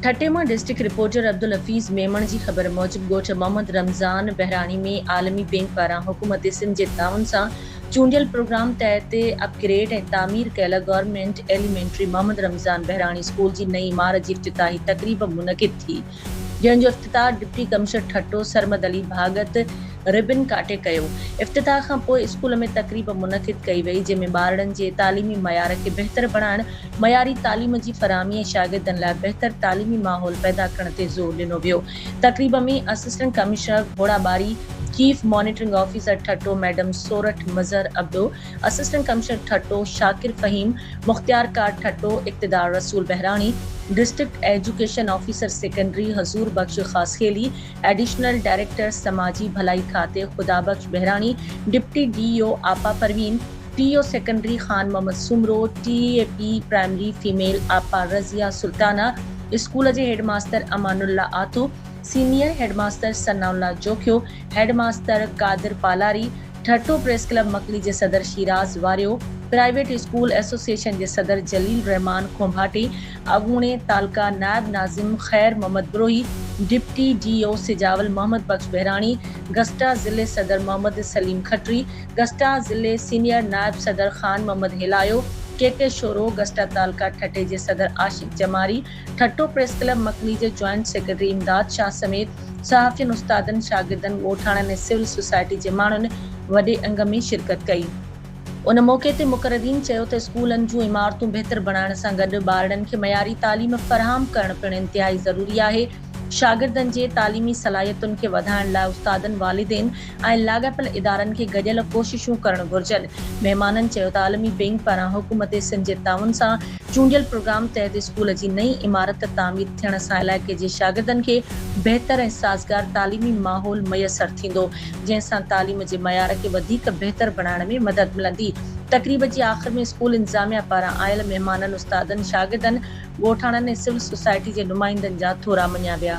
ٺٽي مان district reporter Abdul Hafeez Memon جي خبر موجب ڳوٺ محمد رمضان بهراڻي ۾ عالمي بينڪ پاران حڪومت سنڌ جي تعاون سان چونڊيل پروگرام تحت اپ گريڊ ۽ تعمير ڪيل government elementary Muhammad Ramzan Bahrani school جي نئين عمارت جي افتتاحي تقريب منعقد ٿي جنهن جو افتتاح deputy commissioner Thatta Sarmad Ali Bhagat ribbon ڪاٽي ڪيو افتتاح کانپوء اسڪول ۾ تقريب منعقد ڪئي وئي جنهن ۾ ٻارڙن جي تعليمي معيار کي بهتر بڻائڻ معياري تعليم جي فراهمي ۽ شاگردن لاء بهتر تعليمي ماحول پيدا ڪرڻ تي زور ڏنو ويو. تقريب ۾ assistant commissioner Ghorabari, chief monitoring officer Thatta madam Sorath Mazhar Abro, assistant commissioner Thatta Shakir Fahim, مختيارڪار Thatta Iqtidar Rasool Bahrani, district education officer secondary Huzoor Bakhsh Khaskheli, additional director سماجي ڀلائي کاتي Khuda Bakhsh Bahrani, deputy D O آپا Parveen, T U secondary Khan Muhammad Soomro, T E P primary female آپا رضيه سلطانه، اسڪول جي head master Amanullah Atto, senior head master ثناء الله Jokhio, head master Qadir Palari, ٺرٺو press club Makli جي صدر Shiraz Wario, private school association جي صدر جليل الرحمان کونڀاٽي، اڳوڻي تعلقه نائب ناظم Khair Muhammad Brohi, deputy D O Sujawal Muhammad Bakhsh Bahrani, GUSTA ضلعي صدر محمد سليم کٽري، گسٽا ضلعي سينيئر نائب صدر خان محمد هيلايو، ڪي ڪي شورو، گسٽا تعلقه ٺٽي جي صدر عاشق جماري، ٺٽو پريس ڪلب مڪني جي جوائنٽ سيڪريٽري امداد شاهه سميت صحافين، استادن، شاگردن، ڳوٺاڻن ۽ سول سوسائٽي جي ماڻهن وڏي انگ ۾ شرڪت ڪئي. ان موقعي تي مقررين چيو ته اسڪولن جون عمارتون بهتر بڻائڻ سان گڏ ٻارڙن کي معياري تعليم فراهم ڪرڻ پڻ انتهائي ضروري آهي، شاگردن جي تعليمي صلاحيتن کي وڌائڻ لاء استادن، والدين، ۽ لاڳاپيل ادارن کي گڏيل ڪوششون ڪرڻ گهرجن. مهمانن چيو ته عالمي بئنڪ پاران حڪومت سنڌ جي تعاون سان چونڊيل پروگرام تحت اسڪول جي نئين عمارت تعمير ٿيڻ سان علائقي جي شاگردن کي بهتر ۽ سازگار تعليمي ماحول ميسر ٿيندو جنهن سان تعليم جي معيار کي وڌيڪ بهتر بڻائڻ ۾ مدد ملندي. تقريب جي آخر ۾ اسڪول انتظاميا پاران آيل مهمانن، استادن، شاگردن، ڳوٺاڻن ۽ سول سوسائٽي جي نمائندن جا ٿورا مڃيا ويا.